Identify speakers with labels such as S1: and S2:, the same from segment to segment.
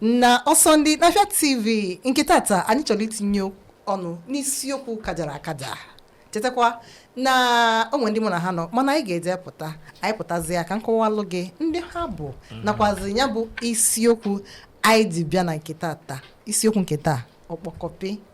S1: na Osondi n'Afịa TV nke tata anyị chọrọ itinye ọnụ n'isiokwu kajara akaja chetakwa na o nwe ndị mụ na ha nọ mana anyị ga-eje pụta anyị pụtazia ka m kọwalụ gị ndị ha bụ nakwazi ya bụ isiokwu anyị ji bịa na nke tata isiokwu nke taa ọkpọkọpị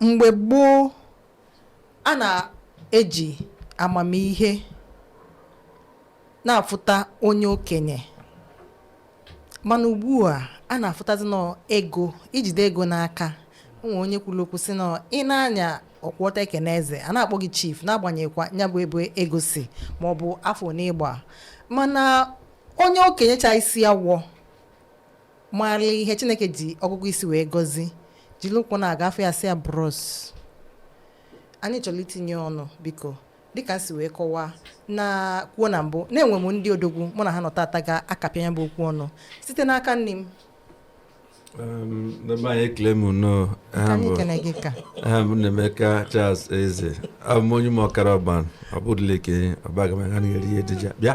S1: mgbe gboo a na-eji amamihe na-afụta onye okenye mana ugbu a a na-afụtazi na ọ ego i jide ego n'aka nwe onye kwuru okwu sị na ị na-anya ọkwụ ọtọ ekene eze a na-akpọ gị chief n'agbanyeghịkwa ya bụ ebe ego si ma ọ bụ afọ one ị gba mana onye okenye cha isi awọ maara ihe chineke ji ọgụgụ isi wee gọzi jiri ụkwụ na-aga a fụ ya sị ya bros anyị chọrọ itinye ọnụ biko dịka si wee kọwaa na kwuo na mbụ na e nwe m ndị odogwu mụ na ha nọ tata ga-akapịa ya bụ okwu ọnụ site n'aka nni m n'ebe anyị ekele m nnọọ aha m bụ ekene gị ka aha m Nnaemeka Charles Eze abụ m onye ụmụ ọkara ọban ọ bụdụla eke ọbagamagana eri ejija bịa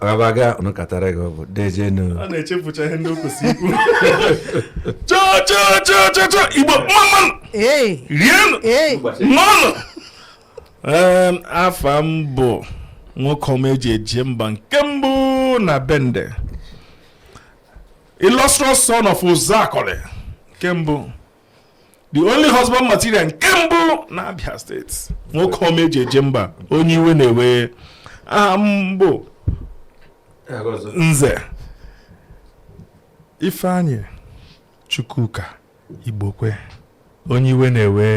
S1: rabaga unu katara gị ọ bụ deejenụ a na-echefucha ihe ndị o kwesịrị ikwu cha cha cha cha cha igbo mmanụ ee rienụ ee mmanụ Em, afa m bụ nwoke ọma e ji eje mba nke mbụ na bende illustrious son of Uzuakọlị nke mbụ the only husband material nke mbụ na Abia steeti nwoke ọma e ji eje mba onye iwe na-ewe aha m bụ nze Ifeanyi Chukwuka Igbokwe onye iwe na-ewe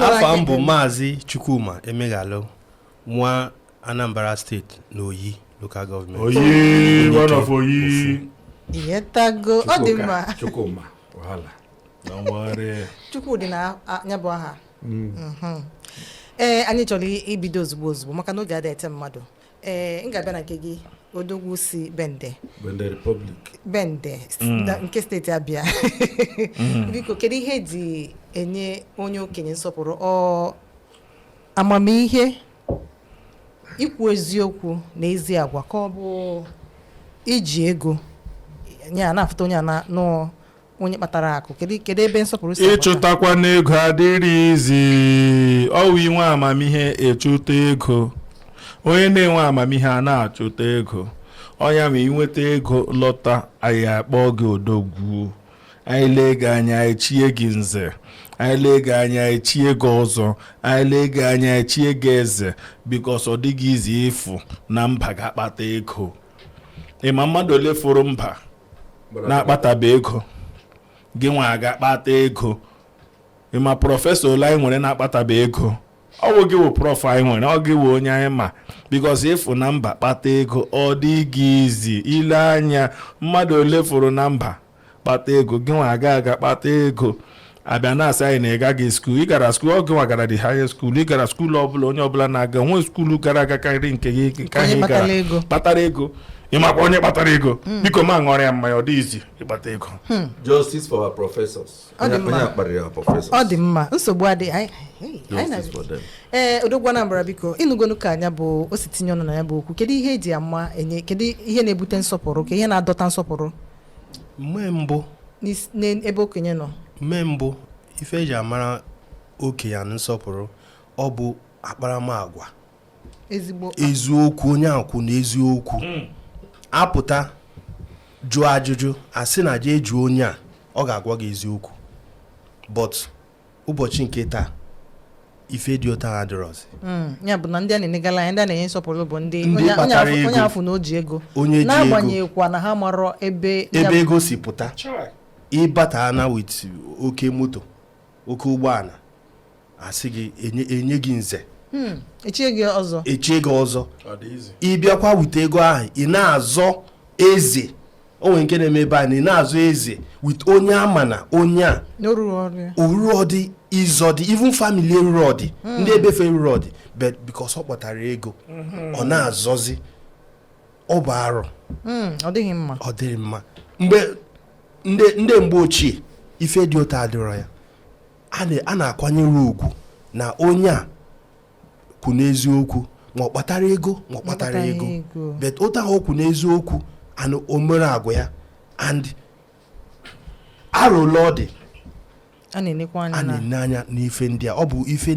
S1: afa m bụ maazị Chukwuma Emeghalụ nwa Anambra steeti na Oyi local government. Oyi, Ndị one of nke Oyi. ofu. i nwetago ọ dị Chukwuka, mma Chukwuma, wahala. Don't worry. chukwu dị na a- ya bụ aha Mhm. ee anyị chọrọ i- ibido ozugbo ozugbo maka na oge adịghị eche mmadụ ee m ga-abịa na nke gị odogwu si bende Bende Republic. bende s- Mm. na- nke steeti abịa Mm. biko kedu ihe e ji enye onye okenye nsọpụrụ ọ amamihe ikwu eziokwu na ezi agwa ka ọ bụ iji ego onye a na-afụta onye a na- na ọ onye kpatara akụ kedu kedu ebe nsọpụrụ si agbata? ịchụtakwanụ ego adịrị easy ọ wụ i nwee amamihe ị chụta ego onye na-enwe amamihe a na-achụta ego ọ nya ma i nweta ego lọta anyị akpọ gị odogwu anyị lee gị anya anyị chie gị nze anyị lee gị anya anyị chie gị ọzọ anyị lee gị anya anyị chie gị eze because ọ dịghị easy ịfụ na mba gaa kpata ego ị ma mmadụ ole fụrụ mba na-akpatabe ego gị nwa gaa kpata ego ị ma professor ole anyị nwere na-akpatabe ego ọ bụ gị wụ prof anyị nwere ọ gị wụ onye anyị ma because ịfụ na mba kpata ego ọ dịghị easy i lee anya mmadụ ole fụrụ na mba kpata ego gị nwa aga aga kpata ego a bịa na-asị anyị na ị gaghị school ị gara school ọ gịnwa gara the higher school ị gara school ọbụla onye ọbụla na-aga nwe school gara aga karịrị nke gị nke ahụ ị gara kpatara ego ị makwa onye kpatara ego hmm. biko ma ṅụọrọ ya mmanya ọ dị easy ịkpata ego hmm. justice for our professors Ọ dị Onye- mma. onye akpara ya professor ọ dị mma nsogbu adịghị anyị- anyị- anyị na- Justice for them. ee odogwu anambra biko ị nụgonu ka anya bụ o si tinye ọnụ na ya bụ okwu kedu ihe eji ama enye kedu ihe na-ebute nsọpụrụ kee ihe na-adọta nsọpụrụ mgbe mbụ n'is- n'ebe okenye nọ mgbe mbụ ife eji amara okenye na nsọpụrụ ọ bụ akparamagwa eziokwu onye a kwụ na eziokwu hmm. apụta jụọ ajụjụ asị na jee jụọ onye a ọ ga-agwa gị eziokwu but ụbọchị nke taa ife dị otu ahụ adịrọzi hmm, ya bụ na ndị a na-enegala anya ndị a na-enye nsọpụrụ bụ ndị onye a fụ na o ji ego n'agbanyeghịkwa na ha marọ ebe ebe ego si pụta ị bata na with oke moto oke ụgbọana asị gị enye gị nze hmm, echie gị ọzọ echie gị ọzọ ị bịakwa with ego ahụ ị na-azọ eze o nwere nke na-eme ebe a na ị na-azọ eze with onye a ma na onye a o rurọdị ịzọ dị even family erurọdị hmm. ndị be fa erurọdị but because ọ kpatara ego hmm. ọ na-azọzi ọ bụ arụ hmm, ọ dịghị mma ọ dịghị mma mgbe ndị mgbe ochie ife dị otu a adịrọ ya a na-akwanyere ugwu na onye a kwụ n'eziokwu ma ọ kpatara ego ma ọ kpatarọ ego but otu ahụ ọ kwụ n'eziokwu and o mere agwa ya and arụla ọ dị a na-ene anya n'ife ndị a ọ bụ ife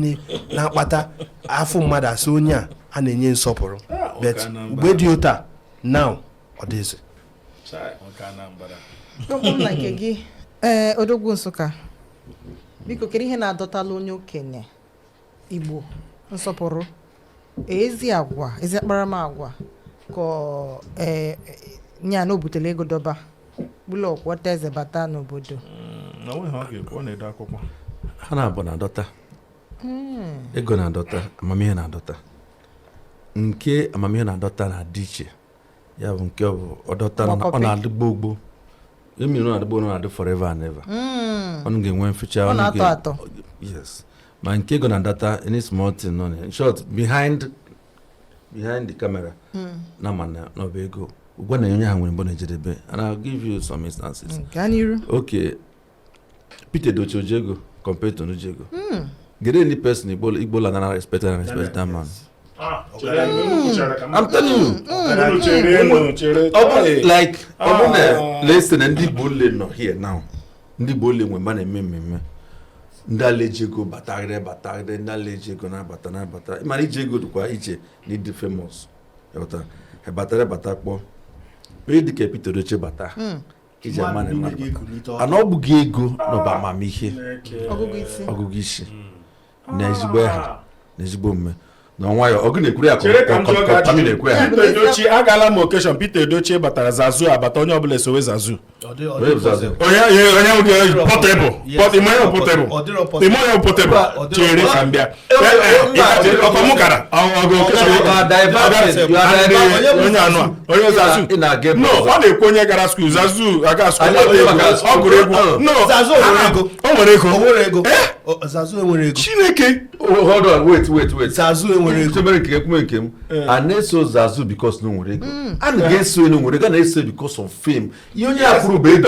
S1: na-akpata a fụ mmadụ a sị onye a a na-enye nsọpụrụ ah, but mgbe dị otu a now ọ dịzi ee eh, odogwu nsukka biko kedu ihe na-adọtala onye okenye igbo nsọpụrụ ezi agwa ezi akparamagwa ka eh, nya na o butele ego dọba bụlụ ọkwọta eze bata n'obodo mm, ha naabọ na-adọta hmm. ego na-adọta amamihe na-adọta nke amamihe na-adọta na-adị iche ya bụ nke ọ bụ ọ dọtara na ọ Mọkọpị. na-adị gbogbo mmiri ọ na-adị gbogbo ọ na-adị forever and ever Mm. ọnụ ga-enwe mficha Ọ ọnụ na-atọ ga- atọ. yes ma nke ego na-adọta any small thing nọ na ya. in short behind behind the camera na ma na na ọ bụ ego ụgwọ na onye ha nwere ebe ọ na-ejedebe and I'll give you some instances gaa n'iru okay Pete Edochie o ji ego compared to onye ji ego. Mm. The only person Igbo Igbo land and respect and respect that man. Ah, I'm telling you. Like, ah. listen, ndị Igbo ole nọ here now. Ndị Igbo ole nwe ebe a na-eme mmemme ndị ala eji ego batagide batagide ndị ala eji ego na-abata na-abata mana iji ego dịkwa iche na ịdị famous batara bata kpọọ onye dịka Pete Edochie bata hmm. iji ama na mmadụ bara ana ọ bụghị ego na ọ bụ amamihe ọgụgụ isi na ezigbo aha na ezigbo omume na nkwanye ugwu na-ekwuru ya kọtami na-ekwu ya Pete Edochie agala m occasion Pete Edochie batara zazu abata onye ọbụla esowe zazu onye onye Portable Portable ị ma onye Portable ị ma onye Portable chere ka m bịa na-ekwu onye gara school zazu aga ọ gụrụ egwu o nwere ego chineke hold on wait wait wait zazu enwere ego chebere nke ekwume nke m a na-eso zazu because na o nwere ego a naghị eso ya na o nwere ego na-eso because of fame ihe onye a kwuru bụ ego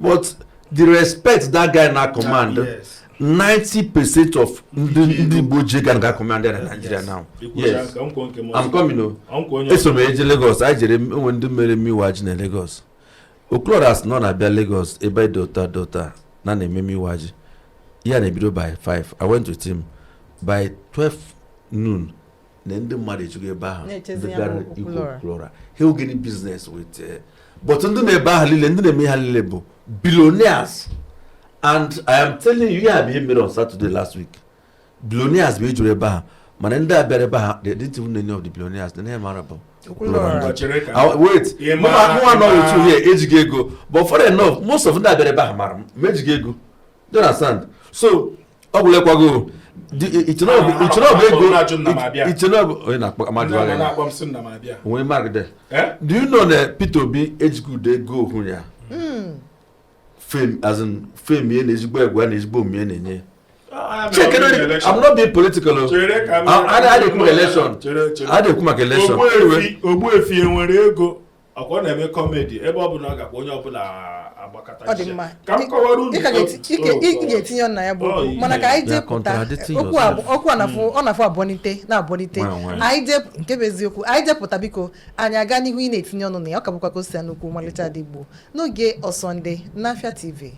S1: but the respect that guy na command ah, yes. 90 percent of ndị ndị igbo ji ego anaghị a-command na nigeria now yes i'm coming o oh. eso m eje lagos anyị jere e nwere ndị mere emume iwa ji na lagos Okwulora sị na ọ na-abịa lagos ebe dota dota na na-eme emume iwa ji ihe a na-ebido by 5 i went with him by 12 noon na ndị mmadụ ejugo ebe ahụ ndị bịara ịhụ Okwulora ha ogene business with eh, but ndị nọ ebe ahụ niile ndị na-eme ha niile bụ billionaires and i am telling you ya bụ ihe mere on Saturday last week billionaires bụ ejuru ebe ahụ mana ndị a bịara ebe ahụ they didn't even know of the billionaires onye ha mara bụ wait mụnwa nọ otu a ejighị ego but funny enough most of ndị a bịara ebe ahụ mara m ma ejighị ego you understand so ọ bụla ekwago ichenobu ego ichenobu onye na-akpọ amadi onwe magide do you know na Peter Obi ejighị ude ego ohu ya fame ye na ezigbo egwu na ezigbo omume na-enye check it i'm not being political o i dey come election i dey come election ogbuefi enwere ego ọkwa ọ na-eme kọmedi ebe ọ bụla ọ gakwa onye ọbụla agbakọta ọ dị isi. mma ka m kọwara unu Ị ka ga-eti- ị ga- ị- ị ga-etinye ọnụ na ya bụ Oh, okwu. mana ka anyị You are jepụta contradicting okwu a yourself. bụ- okwu a na-afụ ọ na-afụ abụọnite na-abụọnite Nwa nwaanyị. anyị jepụ nke bụ eziokwu anyị jepụta biko anyị aga n'ihu ị na-etinye ọnụ na ya ọ ka bụkwa ka o si ya n'okwu ọmalịcha ndị igbo n'oge ọsọnde n'afịa tv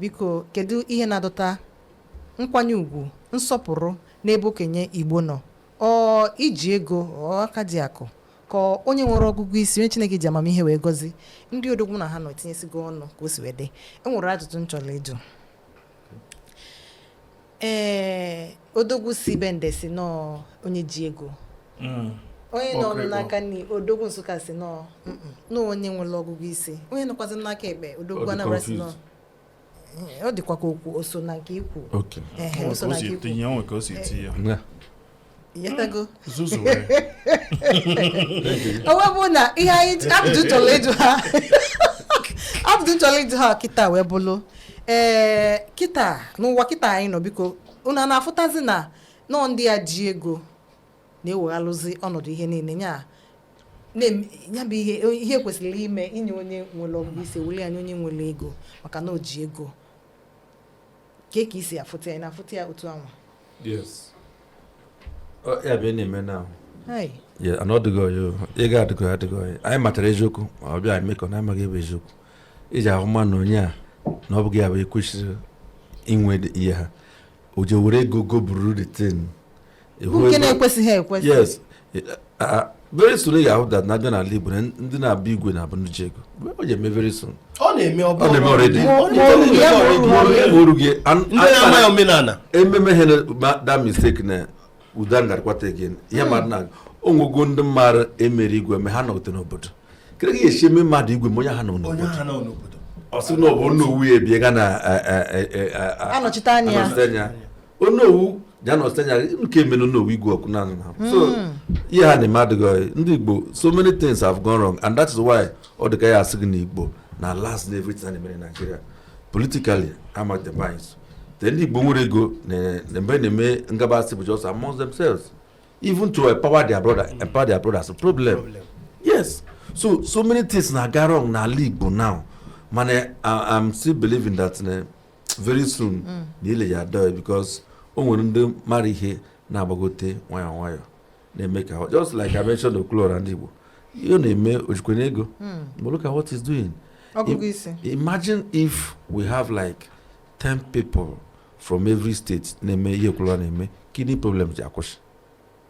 S1: Biko, kedu ihe na-adọta nkwanye ugwu, nsọpụrụ n'ebe okenye Igbo nọ? Ọ iji ego, ọ aka ji akụ, ka onye nwere ọgụgụ isi, onye Chineke ji amamihe wee gọzi? Ndị odogwu na ha nọ etinyesigo ọnụ ka o si wee dị. E nwere ajụjụ m chọrọ ịjụ. Ee, odogwu si Bende sị na ọọ onye ji ego. Mm. Onye nọ Ọkụ ịkpọ. n'aka nri, odogwu Nsụka sị na ọọ mm, mm, na ọọ onye nwere ọgụgụ isi. Onye nọkwazị m n'aka ekpe, Ọ odogwu ndị Anambra sị na ọ confused. Ee, Ọ dịkwa ka okwu o so na nke i kwu. Okay. Ehe, o so na nke i kwu. tinye o nwe ka o si tinye ya. Yeah. ịghọtago zuzu were o wee bụ na ihe anyị abụdụ chọrọ ịjụ ha abụdụ chọrọ ịjụ ha kịta wee bụlụ ee kịta n'ụwa kịta anyị nọ biko unu ana-afụtazi na nọọ ndị a ji ego na-eweghalụzi ọnọdụ ihe niile nya na-em- ya bụ ihe ihe kwesịrị ime inye onye nwere ọgụgụ isi e welụ nye onye nwere ego maka na o ji ego kee ka i si afụta ya na-afụta ya otu anwa yes ya bụ na-eme na ana ọdịgo ya ego adịgo ya adịgo ya anyị matara eziokwu ma ọ bịa emekọ na amaghị ihe bụ eziokwu iji ahụ ma na onye a na ọ bụghị ya bụ kwesịrị inwe ihe ahụ o ji were ego goburu the thing bụ nke na-ekwesịghị ekwesị yes very soon ị ga-ahụ that na-abịa n'ala Igbo ndị na-abụ igwe na-abụ ndị ji ego ọ ga-eme very soon ọ na-eme ọ na-eme already orughị omenala ememe ha na that mistake na uda ngarịkwata again ihe mmadụ na o nwego ndị mmadụ e mere igwe ma ha anọghịdị n'obodo kedu ka ị ga-esi eme mmadụ igwe ma onye ahụ anọ n'obodo ọ sị na ọ bụ onowu ya ebie ga na anọchite anya onowu ya na-anọchi anya nke mere onowu igwe ọkụ naanị na so hmm. ihe ha na-eme adịghị ndị Igbo so many things have gone wrong and that is why ọ dị ka a ya-asị gị na Igbo na-alast na everything a na-eme na Nigeria politically among the minds then ndị Igbo nwere ego na mgbe na-eme ngabasị bụ just among themselves even to empower their brother empower their brothers problem yes so so many things na-aga wrong n'ala Igbo now mana I'm still believing that eh, very soon mm. na ihe ya-adị because o nwere ndị mara ihe na-agbagote nwayọọ nwayọọ na-eme ka just like I mentioned Okwuluora ndị Igbo ihe ọ na-eme o jikweghị ego mm. but look at what he's doing imagine if we have like 10 people from every state na-eme ihe Okwuluora na-eme kidney problem je-akwụsị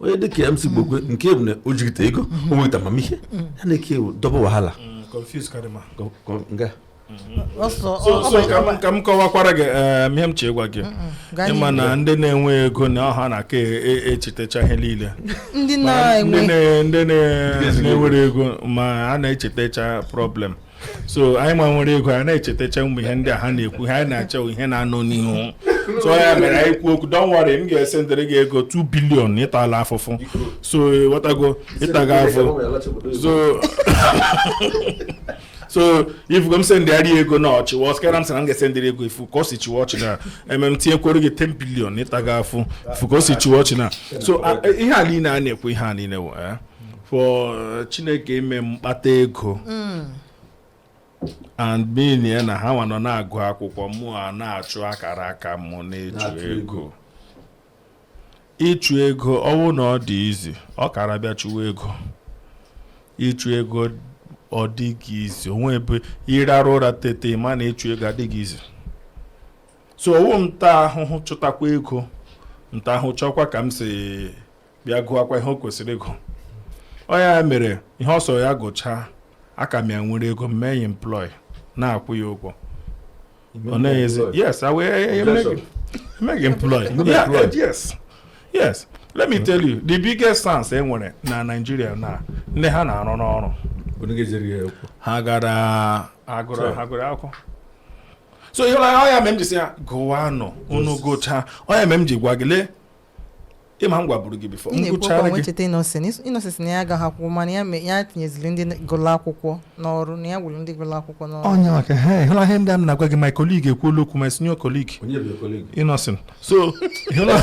S1: onye dịka MC Gbokwe nke bụ na o jigite ego o nweta amamihe ya na-eke ewu dọba wahala ka m kọwakwara gị eh, ihe m chọ ịgwa gị ị ma na ndị na-enwe ego na ọọ ha na-aka e, e, echetacha ihe niile ndị na-enwerọ ego ma a na-echetacha problem so anyị ma nwere ego a na-echetacha ụmụ ihe ndị a ha na-ekwu ha na-achọ ihe na-anọ n'ihu so ya mere anyị kwuo okwu don't worry m ga-esendịrị gị ego 2 billion ị tala afụfụ so ghọtago ịtaga afụ so so ị fụgo m sendịgharị ego na ọchị wa ọskara m sị na m ga-esendịrị ego ị fụ ka o si chịwa ọchị na emem tinyekwere gị 10 billion ịta gị afụ ị fụ ka o si chịwa ọchị na so ihe a niile a na-ekwu ihe a niile wee eh? for uh, chineke ime m kpata ego mm. and being ya na ha nwa nọ na-agụ akwụkwọ mụ ana-achụ akara aka mụ na-achụ ego ịchụ ego ọ wụ na ọ dị easy ọ kara bịa chụwa ego ịchụ ego ọ dịghị easy o nwe ebe ị rarụ ụra tete ma na ịchụ ego adịghị easy so ọ wụ m taa ahụhụ chụtakwa ego nta ahụ chọkwa ka m si bịa gụọkwa ihe o kwesịrị ịgụ ọ ya mere ihe ọ sọrọ ya gụchaa aka m ya nwere ego mee ya employ na-akwụ ya ụgwọ ọ na-enyezi yes I will eh, eh, make him- make him employ Yeah, eh, yes yes let me tell you the biggest sense e nwere na Nigeria na ndị ha na-arụ n'ọrụ Onye ga-ejere ya okwu. ha gara agụrụ Sure. ha gụrụ akwụkwọ so ihe ọ ya mere m ji sị ha gụwanụ unu gụchaa ọ ya mere m ji gwa gị lee ị ma m gwaburu gị before ị na-ekwu okwu a wee cheta Innoson Innoson na ya agaghị akwụkwọ mana ya me- ya tinyeziri ndị gụrụ akwụkwọ n'ọrụ na ya gwụrụ ndị gụrụ akwụkwọ n'ọrụ onye maka ha ịhụla ihe ndị a m na-agwa gị my colleague ekwuola okwu my senior colleague onye bụ colleague gị Innoson so ịhụla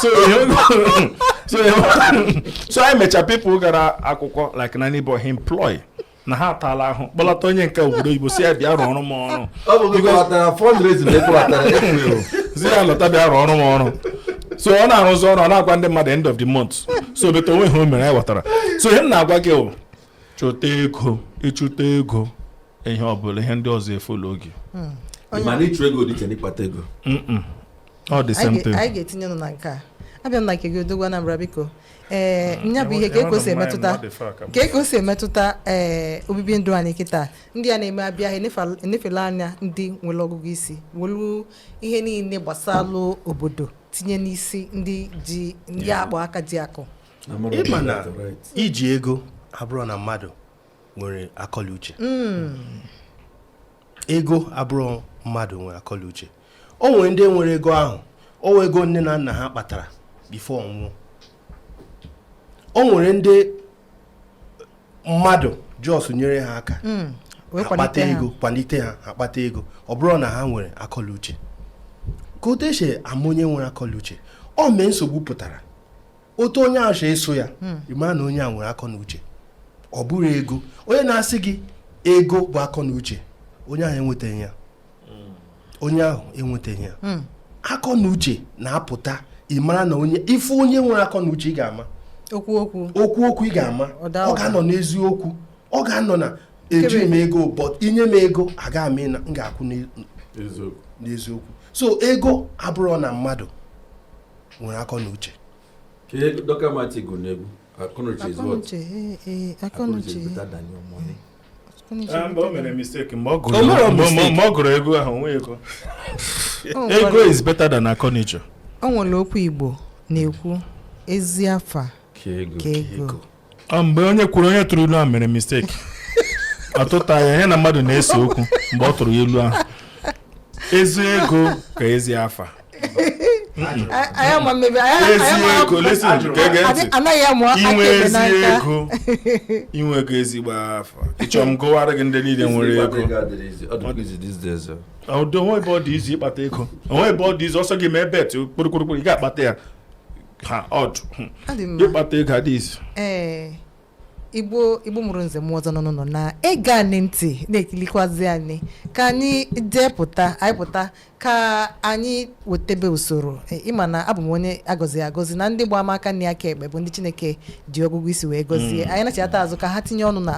S1: so ịhụla- so ịhụla- so anyị mecha people gara akwụkwọ like na neighbor he employ na ha ataala ahụ kpọlata onye nke obodo oyibo sị ya bịa rụọrọ m ọrụ ọ bụ gị kpọlatara fundraising na ị kpọlatara ekwughị sị ya lọta bịa rụọrọ m ọrụ so ọ na-arụzi ọrụ ọ na-agwa ndị mmadụ end of the month so beta onwe ha o mere anyị ghọtara so ihe m na-agwa gị bụ chụta ego ị chụta ego ihe ọ bụla ihe ndị ọzọ efolo oge mana ịchụ ego dị iche n'ịkpata ego Mm-mm. ọ dị same thing anyị ga-etinye ọnụ na nke a abịa m na nke gị odogwu Anambra biko ee nya bụ ihe ka ego si emetụta ka ego si emetụta ee obibi ndụ anyị kịtaa ndị a na-eme abịa ha enefa- enefela anya ndị nwere ọgụgụ isi welu ihe niile gbasalụ obodo tinye n'isi ndị ji ndị a kpọ aka ji akụ ị ma na iji ego abụrọ na mmadụ nwere akọ la uche hmm. ego abụrọ mmadụ nwere akọ la uche o nwere ndị nwere ego ahụ ọ wụ ego nne na nna ha kpatara before ọ nwụọ o nwere ndị mmadụ just nyere ha aka hmm. akpata ego kwalite ha akpata ego ọ bụrọ na ha nwere akọ la uche ka otu e si ama onye nwere akọ la uche ọ mgbe nsogbu pụtara otu onye ahụ eso ya hmm. ịma na onye a nwere akọ na uche ọ bụrọ ego onye na-asị gị ego bụ akọ na uche onye ahụ enwetaghị ya hmm. onye ahụ enwetaghị ya hmm. akọ na uche na-apụta ịmara na onye ife onye nwere akọ na uche ị ga-ama okwu okwu okwu okwu ị ga-ama ọ ga-anọ n'eziokwu ọ ga-anọ na eji m ego but inye m ego aga m m ga-akwụ n'eziokwu so ego abụrọ na mmadụ nwere akọ na uche ọ gụrụ ego ahụ nwe ego ego is better than akọ na uche o nwere okwu igbo na-ekwu ezi afa ka ego Ọ mgbe onye kwuru onye tụrụ ilu ahụ mere mistake ọ tụta ya ihe na mmadụ na-ese okwu mgbe ọ tụrụ ya ilu ahụ ezi ego ka ezi afa anyị ama mmebi anyị ezi ama- ego listen Ajụrụ. gege ntị Adị- anaghị amụ aka inwe ekpe ezi n'aka ego inwe ego ezigbo afa ịchọ m gụwara gị ndị niile nwere ego ọdụ o nwe ebe ọ dị easy ịkpata ego o nwe ebe ọ dị easy ọ sọ gị mee bet kpụrụkpụrụkpụrụ ị ga-akpata ya ha ọdụ ịkpata ego adịghị easy ee igbo igbo mụrụ nze mụọ ọzọ nọ n'ụlọ na-ege anyị ntị na-ekilikwazi anyị ka anyị jee pụta anyị pụta ka anyị wetebe usoro e, ịma na abụ m onye a gọziri agọzi na ndị gba m aka na aka ekpe bụ ndị chineke ji ọgụgụ isi wee gọzie mm. anyị nachita azụ ka ha tinye ọnụ na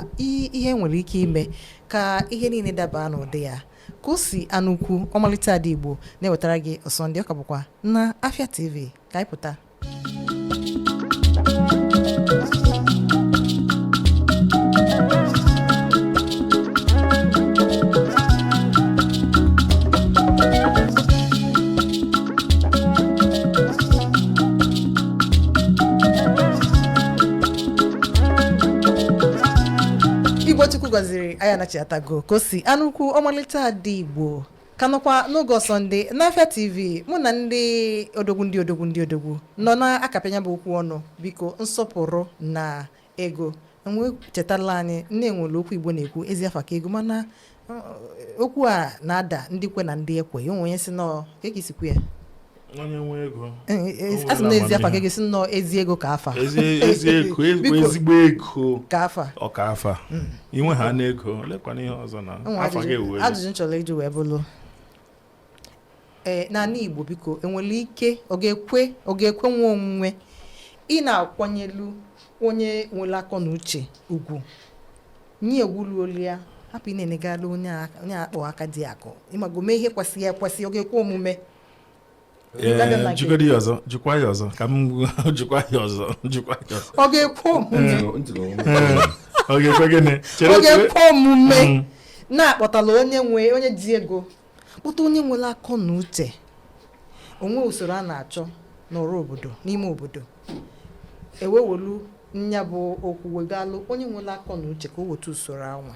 S1: ihe nwere ike ime ka ihe niile daba n'ụdị ya ka o si anụ ọkụ ọmalịcha ada igbo na-ewetara gị ọsọ ndụ ọ ka bụkwa na afia tv ka anyị pụta igbo chukwu gọziri anyị anachitago ka o si anụ ọkụ ọmalịcha ada igbo ka nọkwa n'oge ọsọ ndụ n'afịa tv mụ na ndị odogwu ndị odogwu ndị odogwu nọ na-akapịa nya bụ okwu ọnụ biko nsọpụrụ na ego enwe chetala anyị na e nwere okwu igbo na-ekwu ezi afa ka ego mana uh, okwu a na-ada ndị kwe na ndị ekwe ya o nwe onye sị no kee ka i si kwu ya onye nwe ego asị na ezi afa ka ego sị no ezi ego ka afa ezi ego ezigbo ego ka afa ọ ka afa hmm. inwe ha na ego lekwana ihe ọzọ na afa gị ewu ajụjụ m chọrọ ịjụ wee bụrụ ee eh, n'anị igbo biko enwere ike ọ ga-ekwe ọ ga-ekwe nwa omume ị na-akwanyelu onye nwere akọ na uche ugwu nye ugwu luolu ya hapụ ị na-enegara onye akpọ aka dị akụ ịmago mee ihe kwesịrị ekwesị ọ ga-ekwe omume jikọrọ ya ọzọ jikwa ya ọzọ ka m jikwa ya ọzọ jikwa ya ọzọ ọ ga-ekwe omume ọ ga-ekwe gịnị ọ ga-ekwe omume mm. na a kpọtala onye nwe onye ji ego kpọta onye nwere akọ na uche o nwee usoro a na-achọ n'ọrụ obodo n'ime obodo e wewelu nya bụ okwu wegalụ onye nwere akọ na uche ka o wetu usoro anwa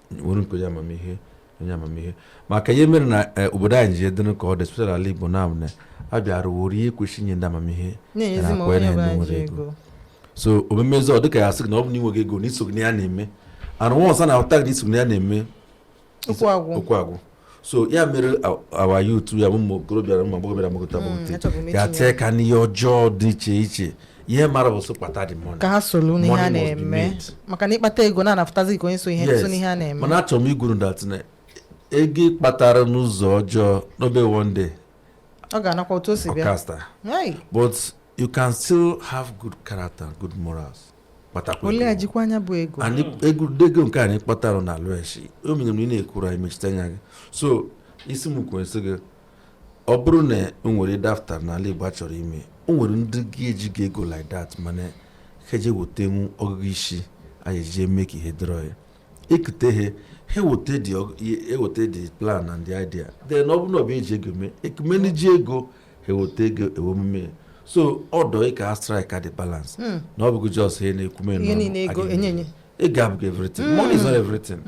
S1: nwere nke onye amamihe onye amamihe maka ihe mere na eh, obodo anyị ji adịrị ka ọ dị especially ala igbo na na a bịara were ihe kwesịrị inye ndị amamihe na-enyezi ma na-akwanyere onye ndị ọbụla nwere ji ego. ego so o memezi ọ dịka ya sị gị na ọ bụ na i nweghị ego na i soghị n'ihe a na-eme and ọsa na-ahụta gị na i soghị n'ihe a na-eme Okwu agwụ. okwu agwụ so ya mere our youth ya ụmụ okorobịa na ụmụ agbọghọbịa na-agbagota mm, ga-etinye aka n'ihe ọjọọ dị iche iche ihe mara bụ sọ kpata the money ka ha soro n'ihe a na-eme maka na ị kpata ego a na-ahụtazi ka onye so ihe so n'ihe a na-eme mana achọrọ m ikwuru that na ego a kpatara n'ụzọ ọjọọ na ọ bụ one day ọ ga-anakwa otu o si bịa but you can still have good character good morals kpatakwalụ jikwa nya bụ ego and ego ego nke ị kpatara na alụ echi o mere na ị na-ekwuru anyị mechite anya gị so isi m kwere sị gị ọ bụrụ na o nwere dafta n'ala Igbo a chọrọ ime o nwere ndị ejighị ego like that mana ha je-ewetenwu ọgụgụ isi anyị eji eme ka ihe dịrọ ya ekute ha eweta the org- e- eweta the plan and the idea then ọ bụrụ na ọ bụ e ji ego mee e kuo ndị ji ego eweta ego e wee mee ya. so ọ dị ka a strike-ịa the balance na ọ bụghị just ihe na-ekwume Ihe niile ego, enye, enye. ego abụghị everything money is not everything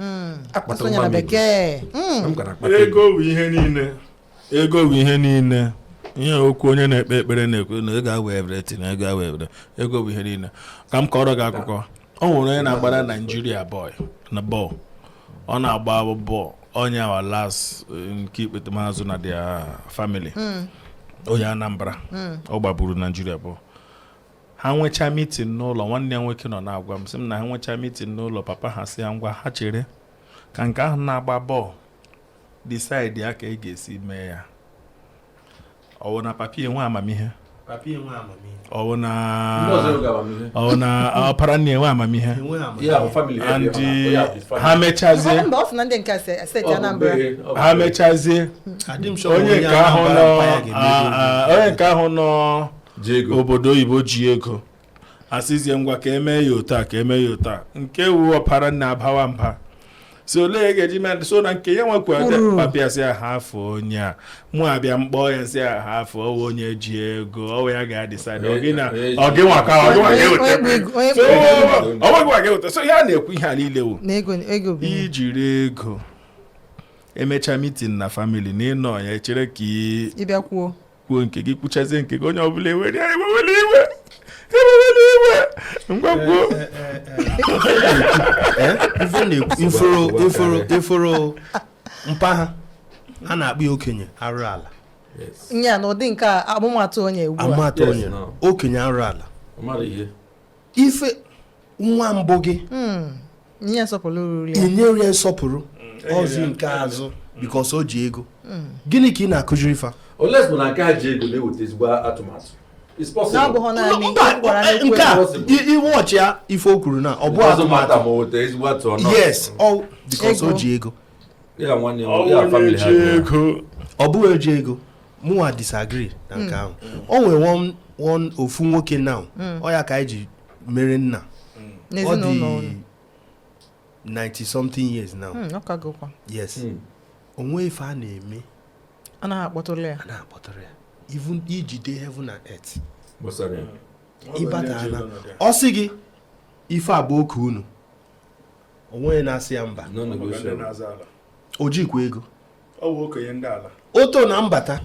S1: akpata Asụọ nya nwa na m ego. bekee. Mm. M gara akpata ego ego bụ ihe niile ego bụ ihe niile ihe okwu onye na-ekpe ekpere na-ekwu na ego awụ everything na ego awụ everything ego bụ ihe niile ka m kọrọ gị akụkọ ọ nwere onye na-agbara naijiria bọl na bọl ọ na-agba bọl onye ahụ wụ last eh, nke ikpetemazụ na their family hmm. onye anambra hmm. ọ gbaburu naijiria bọl ha nwechaa meeting n'ụlọ nwanne ya nwoke nọ na-agwa m sị m na ha nwechaa meeting n'ụlọ papa ha sị ya ngwa ha chere ka nke ahụ na-agba bọl decide ya ka e ga-esi mee ya ọ wụ na papa ya enwe amamihe ọ wụ na ọ wụ na ọpara nna enwe amamihe ndị ha mechazie ha mechazie onye nke ahụ nọ onye nke ahụ nọ obodo oyibo ji ego asịzie ngwa ka emee ya otu a ka emee ya otu a nke wụ ọpara nna abawa mba sị olee ya ga-eji mee so na nke ya nwekwa papa asị ya hafụ onye a mụ abịa m kpọọ ya m sị ya hafụ ọ wụ onye ji ego ọ wụ ya ga-adecide ọ gị nwa ọ gị nwa ka ọ gị nwa ga-eweta so ọ wụ gị nwa ga-eweta so ya na-ekwu ihe a niile wụ na ego ego bụ ihe. i jiri ego emecha meeting na family na ịnọ ya echere ka ị bịa kwuo kwuo nke gị kwuchazie nke gị onye ọbụla ewere ya ewewere iwe ewewere iwe ngwa kwuo ị fụrụ ị fụrụ ị fụrụ mpa ahụ a na-akpọ ya okenye arụ ala nya na ụdị nke a amụmatụ onye ugbu a amụmatụ onye okenye arụ ala ife nwa mbụ gị inye ya nsọpụrụ ọ zi nke azụ because o ji ego gịnị ka ị na-akụziri ife unless bụ na nke a ji ego na-eweta ezigbo atụmatụ nke a iwe ọchị ya ife o kwuru na ọ bụ atụmatụ yes because o ji ego ọ bụghị eji ego mụnwa disagree na nke ahụ o nwere one- one ofu nwoke now ọ ya ka anyị ji mere nna ọ n'ezinụlọ dị unu 90 something years now Hmm, ọ ka gụkwa yes o nwee ife a na-eme a naghị akpọtụrụ ya a na-akpọtụrụ ya even i jide heaven and earth gbasara ya ị bata ana ọ sị gị ife a bụ oke unu o nweghị na-asị ya mba no negotiable o jikwa ego oto na m bata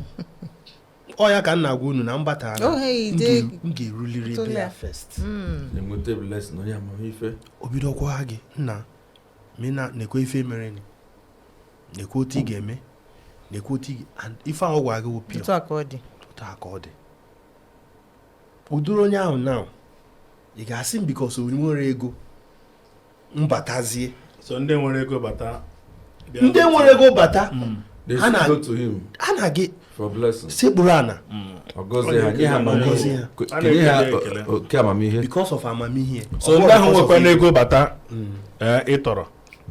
S1: ọ ya ka m na-agwa unu na m bata m ga-eruliri ebe ya first hmm. o bido kọwa gị nna men nekwa ife mere nekwa otu ị ga-eme nekwa otu ife ahụ gwa gị wụ pure otu a ka ọ dị ụdịrị onye ahụ na ị ga-asị m because i nwere ego m batazie so ndị nwere ego bata ndị nwere ego bata hmm. ha na-aga sekpuru ana oke amamihe because of amamihe so ndị ahụ nwekwanụ ego bata hmm. eh, ị tọrọ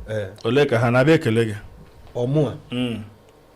S1: eh. ole ka ha na-abịa ekele gị ọmụa hmm.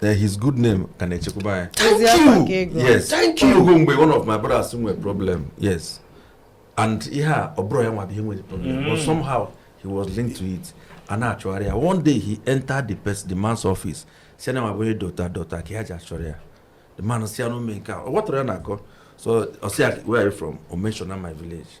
S1: Eh, his good name ka na-echekwaba ya thank you yes thank you o nwe mgbe one of my brothers nwere problem yes and ihe a ọ bụrọ ya nwa bụ ihe nwere problem mm. but somehow he was linked to it a na-achọgharị ya one day he entered the person the man's office sị na nwa bụ onye dota dota ka e ji achọ ya the man sị ya n'ume nke a ọ gwatara ya na akọ so ọ sị ya where are you from o mention my village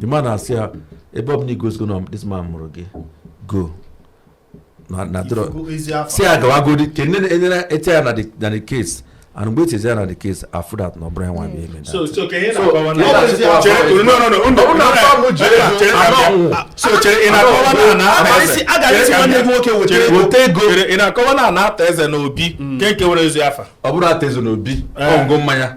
S1: the man asị ya ebe ọ bụ na i gosigo na this man mụrụ gị go na dọrọ si ya gawagodi ka enyere ete ya na the case and mgbe etizi ya na the case a fụ that na ọbụrụ ya nwa bụ eme so chere ị na-akọwa na ana ata eze n'obi nke nke were ezi afa ọ bụrụ ata eze n'obi ọṅụṅụ mmanya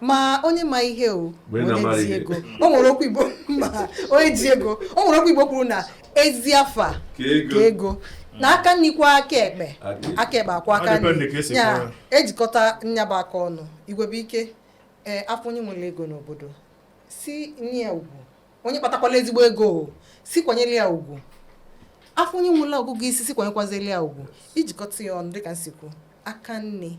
S1: ma onye ma ihe o onye ji ego o nwere okwu igbo ma onye ji ego o nwere okwu igbo kwuru na ezi afa ka ego na aka nni kwọ aka ekpe aka ekpe akwọ aka nri ya ejikọta nya bụ aka ọnụ igwe bụ ike ee eh, a fụ onye nwere ego n'obodo sị nye ya ugwu onye kpatakwala ezigbo ego sị kwanyere ya ugwu a fụ onye nwere agụgụ isi sị kwanyekwazili ya ugwu ijikọta ya ọnụ dịka m si kwu aka nni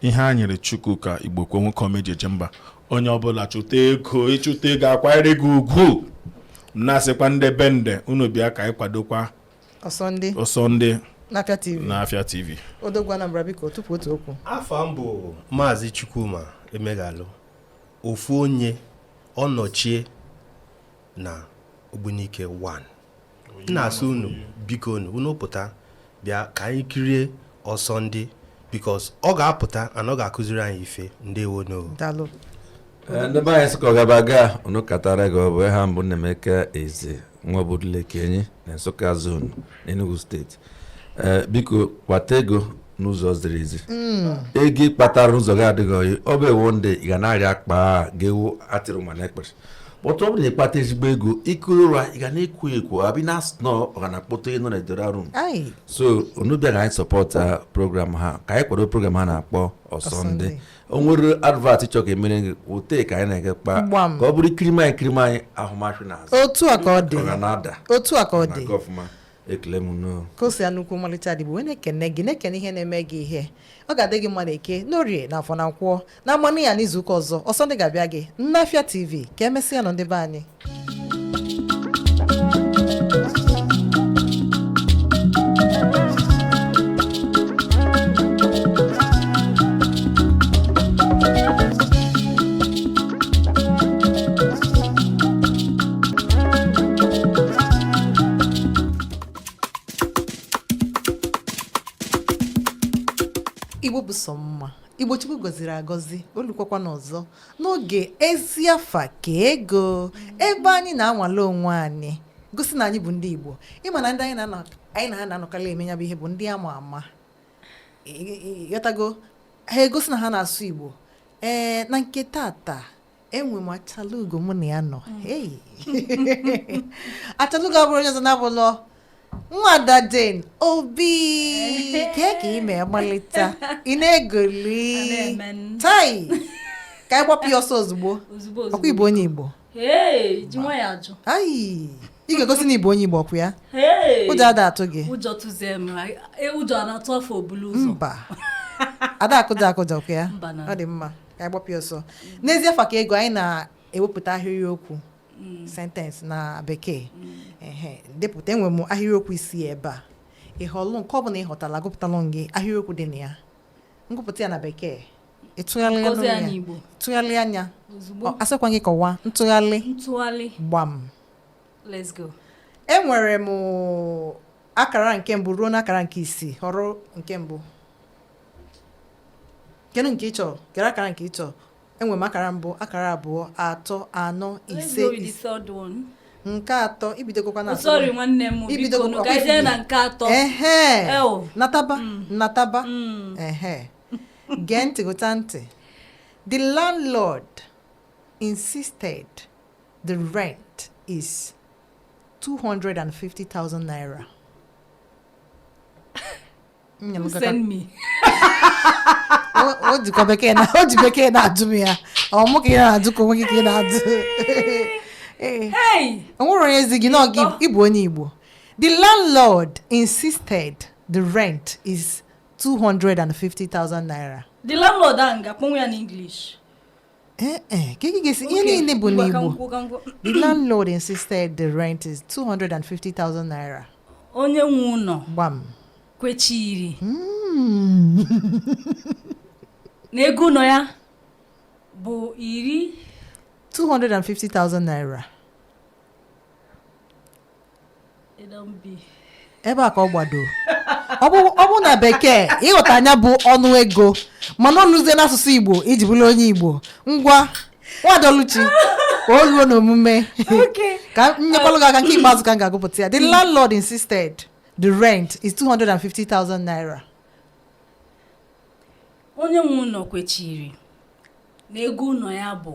S1: ihe a nyere chukwu ka Igbokwe nwoke ọma e ji eje mba onye ọbụla chụta ego ịchụta ego akwanyere gị ugwu na-asịkwa ndị Bende unu bịa ka anyị kwadokwa ọsọ ndị ọsọ ndị n'afịa tv n'afịa tv odogwu anambra biko tupu otu okwu afa m bụ maazị chukwuma emeghalụ ofu onye ọnọchie na ogbunike 1 m na-asị unu biko unu unu pụta bịa ka anyị kirie ọsọ ndị because ọ ga-apụta and ọ ga-akụziri anyị ife ndewo nu eh, ndị be anyị Nsụka ọgaba ga unu katara gị ọ bụ aha m bụ Nnaemeka eze nwa obodo Lekenyi na Nsụka zone n'Enugu state eh, biko kpata ego n'ụzọ ziri ezi hmm. ego ịkpatara n'ụzọ gị adịghị oyi ọ bụ ewo ndị ị ga na-arịa akpa ga-ewu atịrụ ma na-ekpere kpọtụ ọ bụ na ịkpata ezigbo ego ikuru ụra ị ga na-ekwu ekwu abị na asị nọ ọ ga na kpọtụ ịnọ na edoro arụ so unu bịa ka anyị support uh, program a ka anyị kwado program a a na-akpọ ọsọndị o nwere advert ị chọ ka emere gị ote ka anyị na-ege kpa ka ọ bụrụ ikirima anyị kirima anyị ahụmahụ na azụ otu a ka ọ dị otu a ka ọ dị ekele m nnọọ ka o si ya nnukwu ọmalịcha ada igbo wee na-ekene gị na-ekene ihe na-eme gị ihe ọ ga-adị gị mma na eke n'orie na afọ na nkwọ na amanụ ya n'izuụka ọzọ ọsọ ndị ga-abịa gị n'afịa tv ka emesịa nụ ndị be anyị igbo bụ sọ mma igbo chukwu gọziri agọzi o lukwakwanụ ọzọ n'oge ezi afa ka ego ebe anyị na-anwale onwe anyị gosi na anyị bụ ndị igbo ịma na ndị anyị na-anọ anyị na ha na-anọkarị eme ya bụ ihe bụ ndị ama ama Ị- ị- ị ghọtago ha egosi na ha na-asụ igbo ee na nke tata enwe m achalugo mụ na ya nọ achalugo abụrọ onye ọzọ na-abụlọ nwada Jane Obi kee ka ị mee gbalịta ị na-egoli tai ka anyị gbapịa ọsọ ozugbo ọkwa ị bụ onye Igbo ayi ị ga-egosi na ị bụ onye Igbo ọkwa ya ụjọ ada atụ gị ụjọ tụzie m e, ụjọ na-atụ afọ o bulu ụzọ mba ada akụja akụja ọkwa ya ọ dị mma ka anyị gbapịa ọsọ n'ezi afa ka ego anyị na-ewepụta ahịrịokwu mm. sentence na bekee mm. depụta enwe m ahịrịokwu isii ebe a ị họlụ nke ọ bụla ị họtalụ a gụpụtalụ gị ahịrịokwu dị na ya m gụpụta ya na bekee ị tụgharịa nya asịkwa gị kọwaa ntụgharị gbam let's go enwere m akara nke mbụ ruo n'akara nke isii họrọ nke mbụ kee nke ị chọ kee akara nke ị chọ enwe m akara mbụ akara abụọ atọ anọ ise isii nke atọ i bidogokwa na sorry nwanne m i bidogokwa ka i je na nke atọ ehe nataba mm. nataba mm. ehe gee ntị gụta ntị the landlord insisted the rent is 250,000 naira o jikọ bekee na o ji bekee na-ajụ m ya ọ mụ ka ị na-ajụ ka onwe gị ka ị na-ajụ o nwere onye zi gị na ị bụ onye Igbo the landlord insisted the rent is 250,000 naira the landlord ahụ ga-akpọnwu ya n'English Eh, eh, ka ị ga-esi ihe niile bụ n'Igbo the landlord insisted the rent is 250,000 naira onye nwe ụlọ gbam kwechiri hmm. na ego ụlọ ya bụ iri 250,000 naira ebe a ka ọ gbado ọ bụrụ na bekee ị ghọta nya bụ ọnụ ego mana o luzie n'asụsụ igbo i ji bụrụ onye igbo ngwa nwada Oluchi ka o ruo n'omume ka m nyekwalụ gị aka nke ikpeazụ ka m ga-agụpụta ya the landlord insisted the rent is 250,000 naira onye nwe ụlọ kwechiri na ego ụlọ ya bụ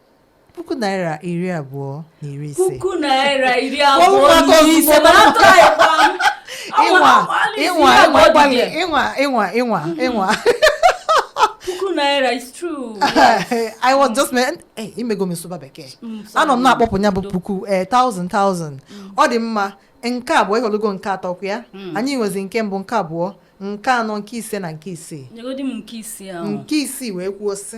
S1: puku naira iri abụọ na iri ise puku naira iri abụọ na iri ise mana atụrụ anyị kpam ịnwa ịnwa ịnwa gbalị ịnwa ịnwa ịnwa ịnwa puku naira is true i was just meant eh, i mego m sụba bekee mm, anọ m na-akpọpụ ya bụ puku eh, thousand thousand mm. ọ dị mma nke abụọ ị họlụgo nke atọ kwa ya mm. anyị nwezi nke mbụ nke abụọ nke anọ nke ise na nke isii nke isii wee kwuo sị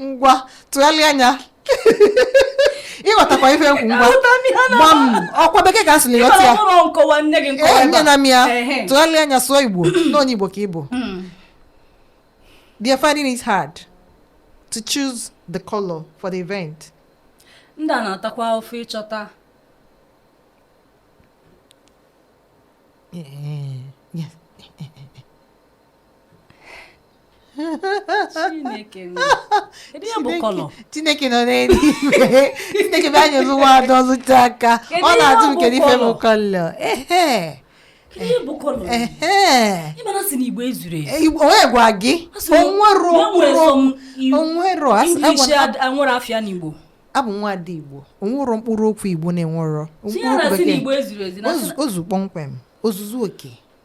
S1: ngwa tụgharịa ya ị ghọtakwa ife m kwu ngwa gwa m okwu bekee ka a sị na ị ghọta ya ee nye na m ya tụgharịa ya sụọ igbo na onye igbo ka ị bụ hmm. they are finding it hard to choose the color for the event ndị a na-atakwa afụfụ ịchọta Yeah. Chineke nọ n'eluigwe Chineke bịa nyelụ nwa ada ọzụta aka ọ na-ajụ m kedu ife bụ color onye gwa gị o nwerọ abụ nwa ada Igbo o nwerọ mkpụrụ okwu Igbo na-enwerọ ozugbo kpọmkwem ozuzu oke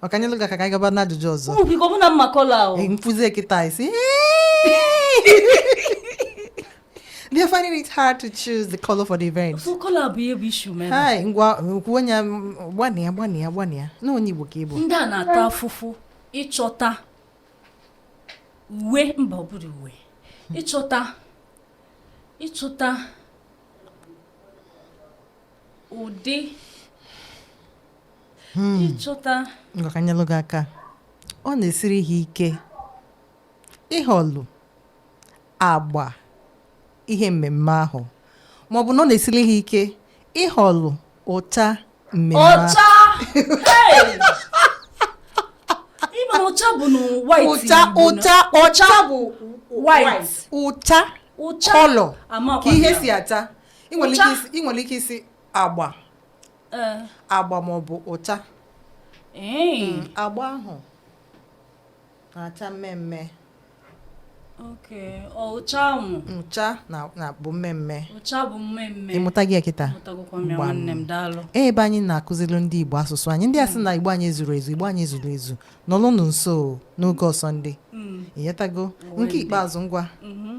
S1: ngwa ka nyelụ gị aka ka anyị gaba n'ajụjụ ọzọ ụmụ biko ọ bụ na m ma color ahụ Ee, m fụzie kịta ị sị They are finding it hard to choose the color for the event. so color bụ ihe bụ issue mere Hi, ngwa kwuo onye gbanịa gbanịa gbanịa na onye Igbo ka ị bụ. ndị a na-ata afụfụ ịchọta uwe mba ọ bụrọ uwe ịchọta ịchọta ụdị hmm. ịchọta ngwa ka nyelụ gị aka ọ na-esiri ha ike ịhọlụ agba ihe mmemme ahụ ma ọ bụ na ọ na-esiri ha ike ịhọlụ ụcha mmemme ọcha ị ma na ụcha bụ na white ụcha ụcha ọcha bụ white ụcha color ka ihe si acha ị nwere ike ịsị agba eh. agba ma ọ bụ ụcha hmm, agba ahụ na-acha mmemme ụcha bụ mmemme ị mụtago kịta ee ebe anyị na-akụziri ndị Igbo asụsụ anyị ndị a sị hmm. na Igbo anyị zuru ezu Igbo anyị zuru ezu nọlụnụ nso n'oge ọsọ ndị hmm. ị ghọtago nke ikpeazụ ngwa mm-hmm.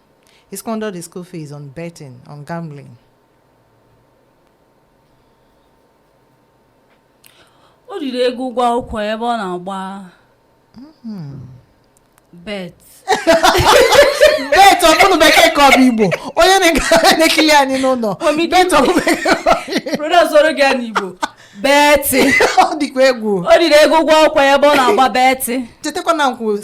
S1: He squandered his school fees on betting, on gambling. o riri ego ụgwọ akwụkwọ ya ebe ọ na-agba bet bet ọ bụ bekee ka ọ bụ igbo onye na- na-ekili anyị n'ụlọ Omi gị bet ọ bụ bekee broda zoro gị ya n'igbo beti ọ dịkwa egwu o riri ego ụgwọ akwụkwọ ya ebe ọ na-agba beti chetakwa na nkwu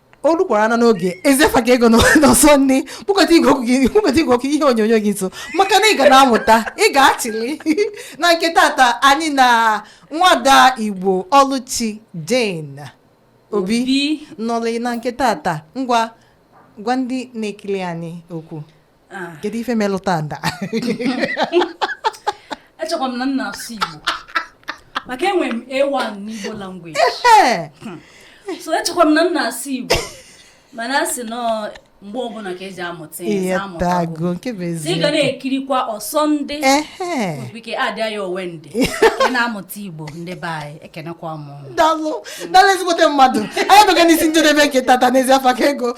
S1: o rukwara na n'oge ezi afa ka ego n'ọsọ ndị kpụkete igwe ọkụ gị kpụkete igwe ọkụ ihe onyonyo gị nso maka na ị ga na-amụta ị ga-achịli na nke tata anyị na nwada igbo ọlụchi jane obi nọlị na nke tata ngwa gwa ndị na-ekili anyị okwu Ah. kedu ife melụ taa m da echekwa m na m na-asụ igbo maka enwere m a1 n'igbo language so echekwa m na m na-asụ igbo mana a sị na ọ mgbe ọbụla ka eji amụta ihe amụtago m nke bụ ezi ị ga na-ekirikwa ọsọ ndị okpike adịa ya owe ndị ị na-amụta igbo ndị be anyị ekenekwa m dalụ dalụ ezigbote mmadụ anyị abịago n'isi njedebe nke tata n'ezi afa ka ego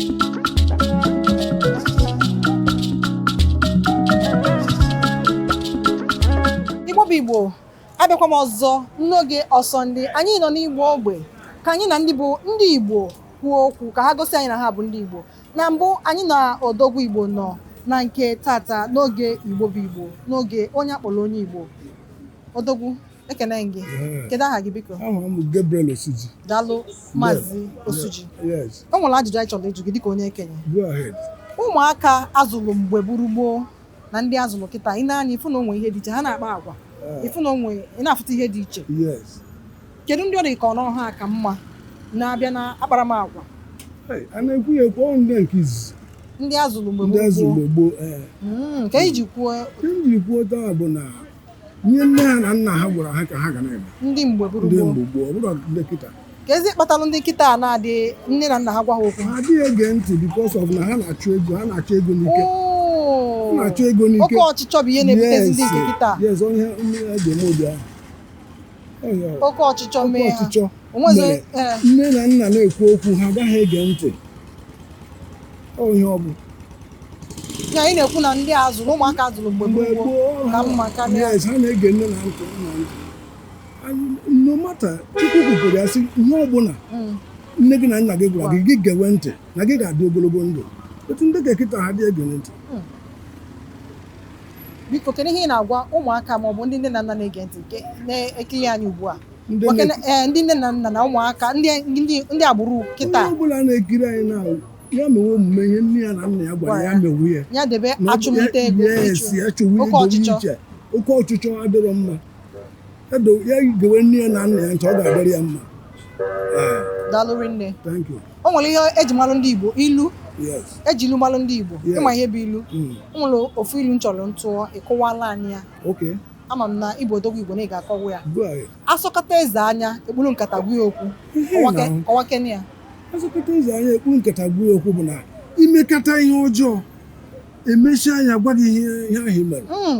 S1: igbo bụ igbo abịakwa m ọzọ n'oge ọsọ ndị anyị nọ n'igbo ogbe ka anyị na ndị bụ ndị igbo kwuo okwu ka ha gosi anyị na ha bụ ndị igbo na mbụ anyị na odogwu igbo nọ na nke tata n'oge igbo bụ igbo n'oge onye akpọrọ onye igbo odogwu ekene m gị Ee, kedu aha gị biko aha m bụ Gabriel Osuji daalụ maazị osuji yes o nwere ajụjụ anyị chọrọ ịjụ gị dịka onye okenye go ahead ụmụaka a zụlụ mgbe gburu gboo na ndị a zụlụ kịta ị nee anya ị fụ na o nwe ihe dị iche ha na-akpa agwa Ee, ị fụ na o nwe ị na-afụta ihe dị iche yes kedu ndị ọ dị ka ọ na ọ ha ka mma na a bịa na akparamagwa Hey, a na-ekwu ya ekwu ọ bụ ndị nke izizi ndị a zụlụ mgbe ndị gburu azụ gboo mgbe gboo ee Mm, ka anyị ji kwuo ihe m jiri kwuo otu a bụ na ihe nne ha na nna ha gwara ha ka ha ga na-eme ndị mgbe bụrụ ndị gboo mgbe gboo ọ bụrụ ndị kịta kezi kpatalụ ndị kịta a na-adị nne na nna ha gwa ha okwu ha adịghị ege ntị because of na ha na-achụ ego ha na-achụ ego n'ike ha Oo. na-achụ ego n'ike oke ọchịchọ bụ ihe na-ebutezi ndị nke Yes, kịta yes, onye ihe a ga-eme ụdị ahụ oke ọchịchọ mee nne na nna na-ekwu okwu ha agaghị ege ntị ihe ọ bụ ya ị na-ekwu na ndị azụ na ụmụaka a zụrụ mgbe gboo ka mma karịa ha na-ege nne na ntị nna ntị no matter chukwu kwuru ya sị ihe ọbụla hmm. nne gị na nna gị gwara gị gị gewe ntị na gị ga-adị ogologo ndụ but ndị nke kịta ha adị ege ntị hmm. biko kedu ihe ị na-agwa ụmụaka ma ọ bụ ndị nne na nna na-ege ntị nke na-ekiri anyị ugbu a Ndị Nwoke na- ee, ndị nne na nna na ụmụaka ndị ndị- ndị agbụrụ onye kịta ọbụla na-ekiri anyị na ya mewe omume ihe nne ya na nna ya gwara ya mewe ya ya debe Na ọ- achụmnta ego yes, ịchụ. ya chụwa oke idowe ọchịchọ. iche oke ọchịchọ adịrọ mma Ya do- ya gewe nne ya na nna ya ntị ọ ga-adịrị ya mma Ee, daalụ rinne thank you o nwere ihe eji malụ ndị Igbo ilu eji ilu malụ ndị Igbo ị ma ihe bụ ilu hmm. o nwere ofu ilu m chọrọ m tụọ ị kọwalụ anyị ya ama m na ị bụ odogwu Igbo na ị ga-akọwa ya asọkata eze anya ekpuru nkata gwa ya okwu kọwakene ya asọkata eze anya ekpuru nkata gwa ya okwu bụ na i mekata ihe ọjọọ emechie anya gwa gị ihe ahụ mere hmm.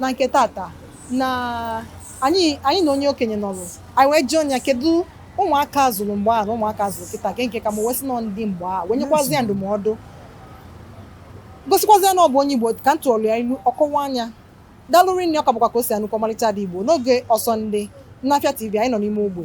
S1: na nke tata na anyị anyị na onye okenye nọrụ anyị wee jụọ ya kedu ụmụaka a zụrụ mgbe a na ụmụaka a zụrụ kịta ke nke ka mma ọ wee sị na ọ ndị mgbe a wee nyekwazia ndụmọdụ gosikwazia na ọ bụ onye igbo ka m tụọlụ ya ilu ọ kọwaa ya daalụ rinne ọ ka bụkwa Kaosi Anukwa ọmalịcha ada igbo n'oge ọsọ ndị n'Afịa tv anyị nọ n'ime ogbe